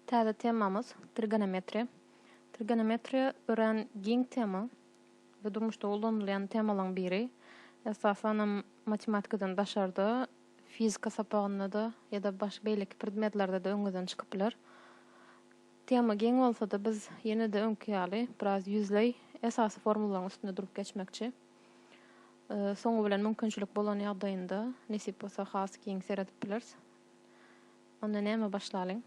Täze temamyz, trigonometriýa. Trigonometriýa örän giň tema we durmuşda ulanylýan temalaryň biri. Esasanam matematikadan daşarda, fizika sapagynda-da ýa-da başga beýleki predmetlerde-de öňüňizden çykyp biler. Tema giň bolsa-da, biz ýene-de öňki ýaly biraz ýüzleý esasy formularyň üstünde durup geçmekçi. Soňy bilen mümkinçilik bolan ýagdaýynda, nesip bolsa has giň seredip bileris. Onda näme başlalyň?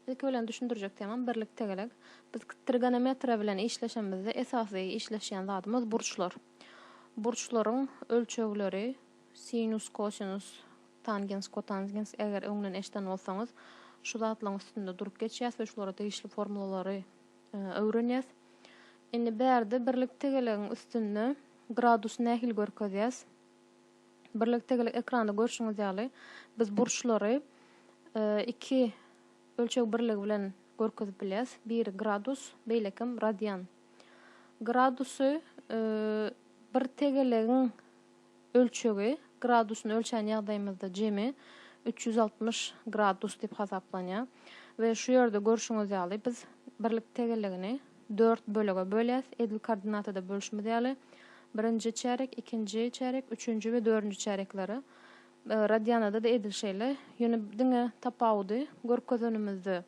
Ilki bilen düşündirjek temam birlik tegelek. Biz trigonometriýa bilen işleşemizde esasy işleşýän zadymyz burçlar. Burçlaryň ölçegleri sinus, kosinus, tangens, kotangens eger öňden eşden bolsaňyz şu zatlaryň üstünde durup geçýäs we şulara degişli formulalary öwrenýäs. Indi bärde birlik tegelegiň üstünde gradus nähili görkezýäs? Birlikdegilik ekranda görşüňiz ýaly, biz burçlary iki ölçeg birligi bilen görkezip bilýäs. Biri gradus, beýlekim radian. Gradusy bir tegelegiň ölçegi gradusyny ölçän ýagdaýymyzda jemi üç ýüz altmyş gradus diýip hasaplanýar we şu ýerde görşüňiz ýaly biz birlik tegelegini dört bölege bölýäs, edil koordinatada bölüşimiz ýaly, birinji çärek, ikinji çärek, üçünji we dördünji çäreklere. Radianada-da edil şeýle, ýöne diňe tapawudy görkezenimizde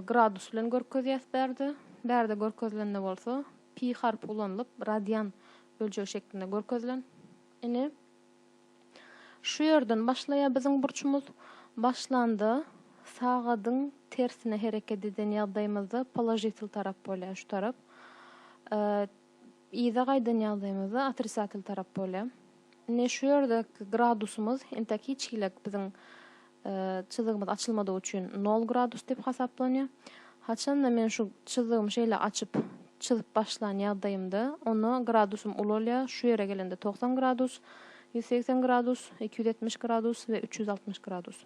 gradus bilen görkezýäs bärde, bärde görkezilende bolsa pi harpy ulanylyp, radian böljegi şeklinde görkezilen. Ine. Şu ýerden başlaýar biziň burçumyz. Başlanda sagadyň tersine hereket eden ýagdaýymyzda položitel tarap bolýar, şu tarap. Yza gaýdan ýagdaýymyzda otrisatel tarap bolýar. Ine şu ýerdeki gradusymyz entäk hiç hili biziň Çyzygymyz açylmadygy üçin nol gradus diýip hasaplanýar. Haçanda men şu çyzygymy şeýle açyp, çyzyp başlan ýagdaýymda, onda gradusym uly bolýar, şu ýere gelende togsan gradus, ýüz segsen gradus, iki ýüz ýetmiş gradus we üç ýüz altmyş gradus.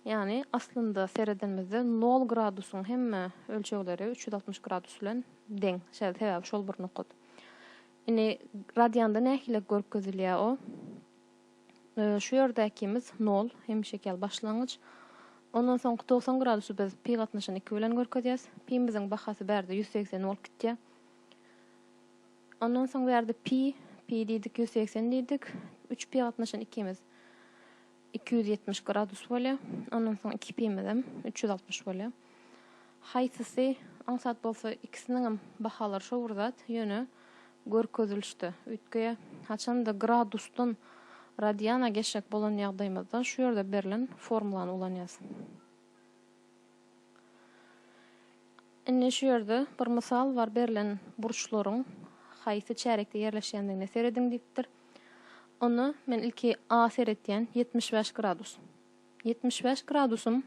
Ýagny, aslynda seredenimizde nol gradusyň hemme ölçegleri üç ýüz altmyş gradus bilen deň. Şeýle, sebäbi şol bir nokat. Indi radianda nähili görkezilýär o? Şu ýerdäkimiz nol, hemişeki ýaly başlangyç. Ondan soňky togsan gradusy biz pi gatnaşan iki bilen görkezýäs. Pimiziň bahasy bärde ýüz segsen bolup gitýär. Ondan soň bu ýerde pi, pi diýdik, ýüz segsen diýdik. Üç pi gatnaşan ikimiz iki ýüz ýetmiş gradus bolýar. Ondan soň iki pimizem üç ýüz altmyş bolýar. Haýsysy aňsat bolsa ikisiniňem bahalary şo bir zat, ýöne görkezilişde, üýtge, haçanda gradusdan radiana geçjek bolan ýagdaýymyzda şu ýerde berlen formulany ulanýas. Indi şu ýerde bir mysal bar berlen burçlaryň haýsy çärekde ýerleşýändigine serediň diýipdir. Onda men ilki A seretýän ýetmiş bäş gradus. Ýetmiş bäş gradusym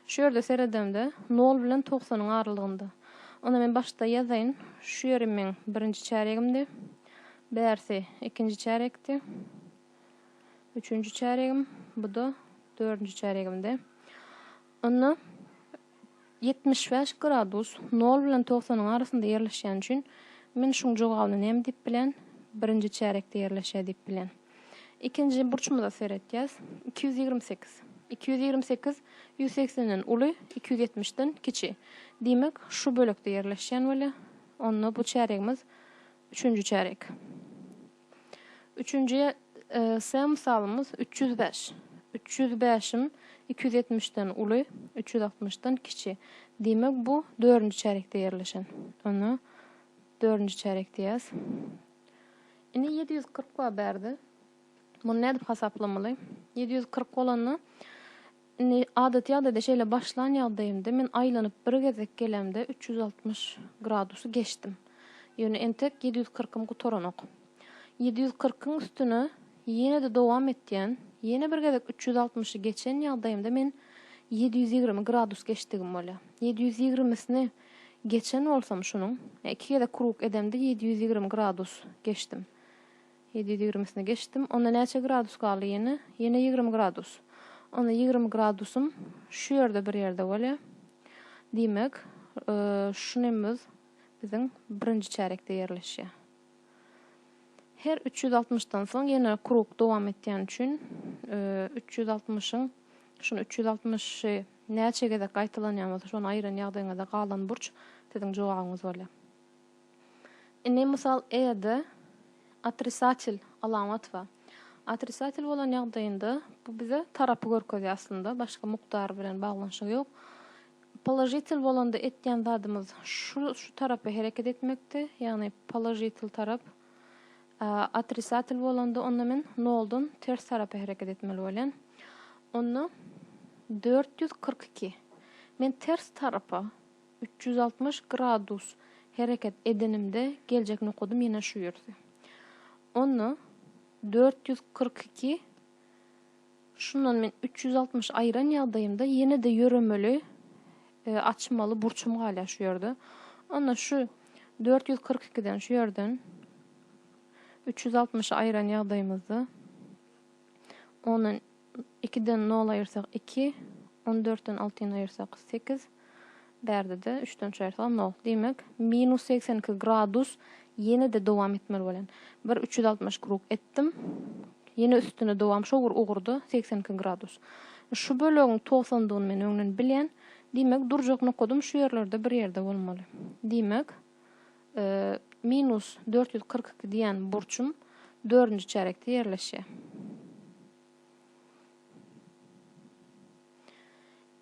şu ýerde seredemde nol bilen togsanyň aralygynda. Onda men başda ýazaýyn, şu ýeri meň birinji çärýegimdi, bärsi ikinji çärýekdi, üçünji çärýegim, bu-da dördünji çärýegimdi. Onda. Ýetmiş bäş gradus nol bilen togsanyň arasynda ýerleşýäni üçin men şuň jogabyny näme diýip bilen? Birinji çärekde ýerleşýär diýip bilen. Ikinji burçumyza seretýäs. Iki ýüz ýigrimi sekiz. Iki ýüz ýigrimi sekiz ýüz segsenden uly, iki ýüz ýetmişden kiçi. Diýmek, şu bölekde ýerleşýän weli, onda bu çäregimiz üçünji çärek. Üçünji S mysalymyz üç ýüz bäş. Üç ýüz bäşim iki ýüz ýetmişden uly, üç ýüz altmyşdan kiçi. Diýmek, bu dördünji çärýekde ýerleşen. Onda dördünji çärýek diýýäs. Indi ýedi ýüz kyrk bar bärde. Muny nädip hasaplamaly? Ýedi ýüz kyrk bolanda Indi adaty ýagdaýda şeýle başlan ýagdaýymda men aýlanyp bir gezek gelämde üç ýüz altmyş gradusy geçdim. Ýöne entek ýedi ýüz kyrkym gutaranok. Ýedi ýüz kyrkyň üstüne ýene-de dowam etýän, ýene bir gezek üç ýüz altmyşy geçen ýagdaýymda men ýedi ýüz ýigrimi gradus geçdigim bolýar. Ýedi ýüz ýigrimisini geçen bolsam şunuň, ýa iki gezek krug edemde ýedi ýüz ýigrimi gradus geçdim. Ýedi ýüz ýigrimisine geçdim. Onda näçe gradus galdy ýene? Ýene ýigrimi gradus. Onda ýigrimi gradusym şu ýerde bir ýerde bolýa. Diýmek, şu nemüz biziň birinji çärekde ýerleşýä. Her üç ýüz altmyşdan soň ýene krug dowam etýäni üçin üç ýüz altmyşyň şuny üç ýüz altmyşy näçe gezek gaýtalanýan bolsa şony aýyran ýagdaýyňyzda galan burç siziň jogabyňyz bolýa. Indi mysal E-de otrisatel alamat bar. Otrisatel bolan ýagdaýynda bu bize tarapy görkezýär aslynda, başga mukdar bilen baglanyşygy ýok. Položitel bolanda etýän zadymyz şu şu tarapa hereket etmekdi, ýagny položitel tarap. Otrisatel bolanda onda men noldan ters tarapa hereket etmeli bolýan. Onda dört ýüz kyrk iki. Men ters tarapa Üç ýüz altmyş gradus hereket edenimde geljek nokadym ýene şu ýerdi. Onda dört ýüz kyrk iki şundan men üç ýüz altmyş aýran ýagdaýymda ýene-de ýöremeli e, açmaly burçum galýar şu ýerde. Onda şu dört ýüz kyrk ikiden şu ýerden üç ýüz altmyşy aýran ýagdaýymyzda ondan Ikiden nol aýyrsak, iki. On dörtden altyny aýyrsak, sekiz. Bärde-de üçden üç aýyrsagam nol. Diýmek, minus segsen iki gradus ýene-de dowam etmeli bolan. Bir üç ýüz altmyş krug etdim. Ýene üstüne dowam şo bir ugurda segsen iki gradus. Şu bölegiň togsandygyny men öňden bilýän. Diýmek, durjak nokadym şu ýerlerde bir ýerde bolmaly. Diýmek. minus dört ýüz kyrk iki diýen burçum dördünji çärekde ýerleşýär.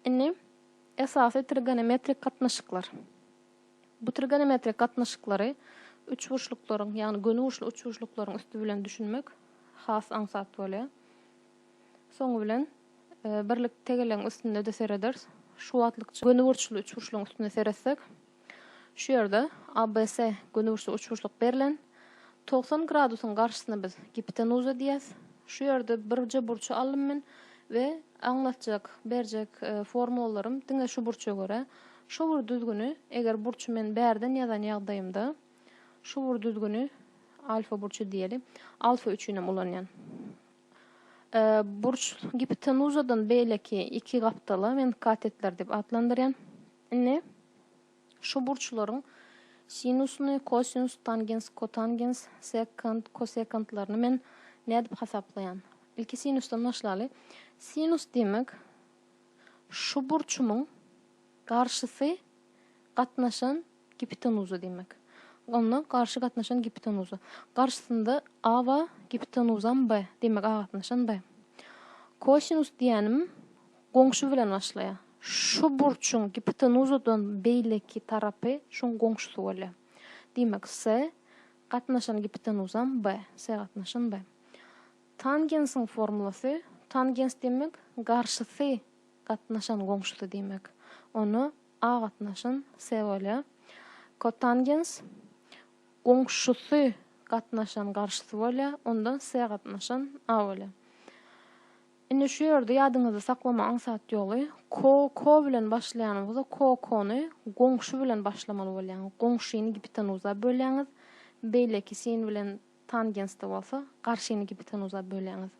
Indi esasy trigonometrik gatnaşyklar. Bu trigonometrik gatnaşyklary üçburçluklaryň, ýagny göni burçly üçburçluklaryň üsti bilen düşünmek has aňsat bolýar. Soňy bilen e, birlik tegelegiň üstünde-de serederis. Şu wagtlykça göni burçly üçburçlugyň üstünde seretsek, Şu ýerde ABS gönüburçly uçguşlyk berlen. Togsan gradusyň garşysyna biz gipotenuza diýýäs. Şu ýerde birje burçy aldym men we aňlatjak, berjek formulalarym diňe şu burça görä. Şu bir düzgüni, eger burçy men bärden ýazan ýagdaýymda, şu bir düzgüni alfa burçy diýeli, alfa üçin hem ulanýan. Burç gipotenuzadan beýleki iki gapdala men katetler diýip atlandyrýan. Indi şu burçlaryň sinusyny, kosinus, tangens, kotangens, sekant, kosekantlaryny men nädip hasaplaýan? Ilki sinusdan başlaly. Sinus diýmek, şu burçumyň garşysy gatnaşan giptenuza diýmek. Onda garşy gatnaşan giptenuza. Garşysynda A bar, giptenuzam B. Diýmek, A gatnaşan B. Kosinus diýýänim Goňşy bilen başlaýar. Şu burçuň gipotenuzadan beýleki tarapy şuň goňşusy bolýar. Diýmek, S gatnaşan gipotenuzam B. S gatnaşan B. Tangensiň formulasy, tangens diýmek, garşysy gatnaşan goňşusy diýmek. Onda A gatnaşan S bolýar. Kotangens, goňşusy gatnaşan garşysy bolýar. Onda S gatnaşan A bolýar. Indi şu ýerde ýadyňyzda saklama aňsat ýoly, ko, ko bilen başlaýan bolsa, ko, kony goňşy bilen başlamaly bolýaň. Goňşyny gipitenuza bölýäňiz, beýleki sin bilen tangensda bolsa, garşyny gipitenuza bölýäňiz.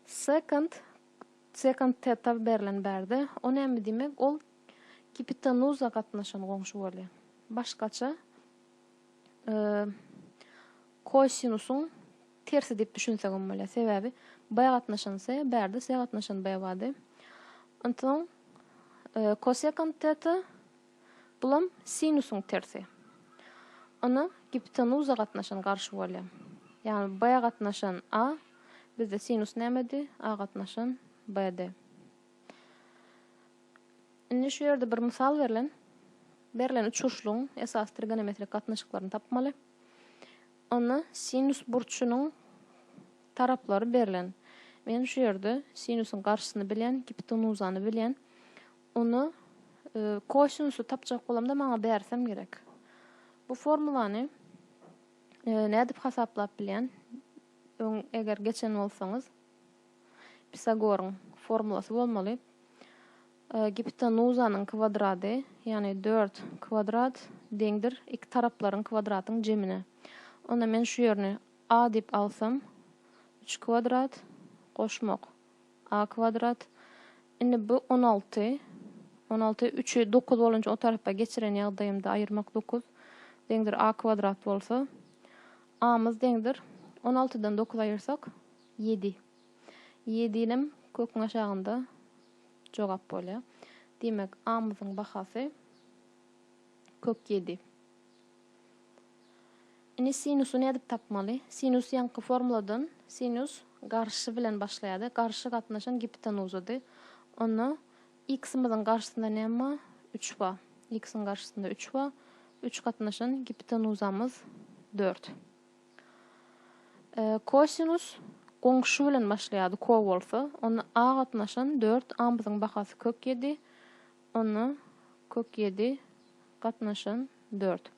Sekant, sekant teta berlen bärde, o näme diýmek? Ol gipitenuza gatnaşan goňşy bolýar. Başgaça, e, kosinusyň Tersi diýip düşünsegem bolýar. Sebäbi baý gatnaşan se, bärde se gatnaşan baý bardy. Onsoň kosekant teta, bulam sinusyň tersi. Ony giptenuza gatnaşan garşy bolýar. Ýagny baý gatnaşan a, bizde sinus nämedi? A gatnaşan BD. Indi şu ýerde bir mysal berlen. Berlen üçburçlugyň esasy trigonometrik gatnaşyklaryny tapmaly. Onda sinus burçunyň taraplary berlen. Men şu ýerde sinusyň garşysyny bilýän, gipotenuzany bilýän. Onda kosinusy tapjak bolamda maňa bärsem gerek. Bu formulany nädip hasaplap bilýän? Öň eger geçen bolsaňyz Pisagoryň formulasy bolmaly. Gipotenuzanyň kwadrady, ýagny dört kwadrat, deňdir iki taraplaryň kwadratyň jemine. Onda men şu ýerini a diýip alsam, üç kwadrat, goşmak, a kwadrat. Indi bu on alty. On alty, üçi dokuz bolunca o tarapa geçiren ýagdaýymda aýyrmak dokuz, deňdir a kwadrat bolsa, a-myz deňdir on altydan dokuz aýyrsak, ýedi. Ýedinem köküň aşagynda. jogap bolýar. Diýmek, A-myzyň bahasy kök ýedi. Indi sinusy nädip tapmaly? Sinus ýaňky formuladan sinus garşy bilen başlaýardy. Garşy gatnaşan giptenuzydy. Onda x-myzyň garşysynda näme bar? 3 bar. X-iň garşysynda 3 bar. 3 gatnaşan giptenuzamyz 4. Kosinus goňşy bilen başlaýardy, ko bolsa, onda a gatnaşan dört amyzyň bahasy kök ýedi, onda kök ýedi gatnaşan dört.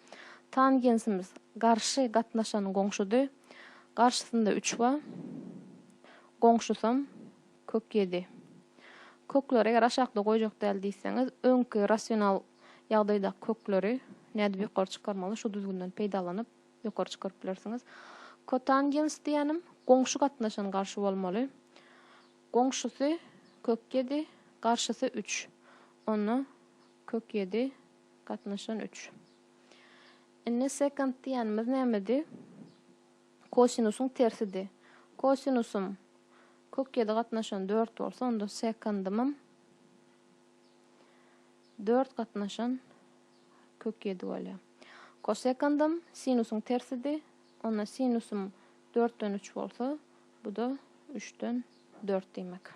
Tangensimiz garşy gatnaşan goňşudy, garşysynda üç ba, goňşusam kök ýedi. Kökleri eger aşakda goýjak däl diýseňiz, öňki rasional ýagdaýdaky kökleri nädip ýokary çykarmaly, şu düzgünden peýdalanyp, Ýokary çykaryp bilersiňiz. Kotangens diýýänim, goňşy gatnaşan garşy bolmaly. Goňşusy, kök ýedi, garşysy üç. Onda kök ýedi gatnaşan üç. Indi sekant diýýänimiz nämedi? Kosinusyň tersidi. Kosinusym kök ýedi gatnaşan dört bolsa, onda sekandymam dört gatnaşan Kök ýedi bolýar. Kosekandam sinusyň tersidi. Onda sinusym dörtden üç bolsa, bu-da üçden dört diýmek.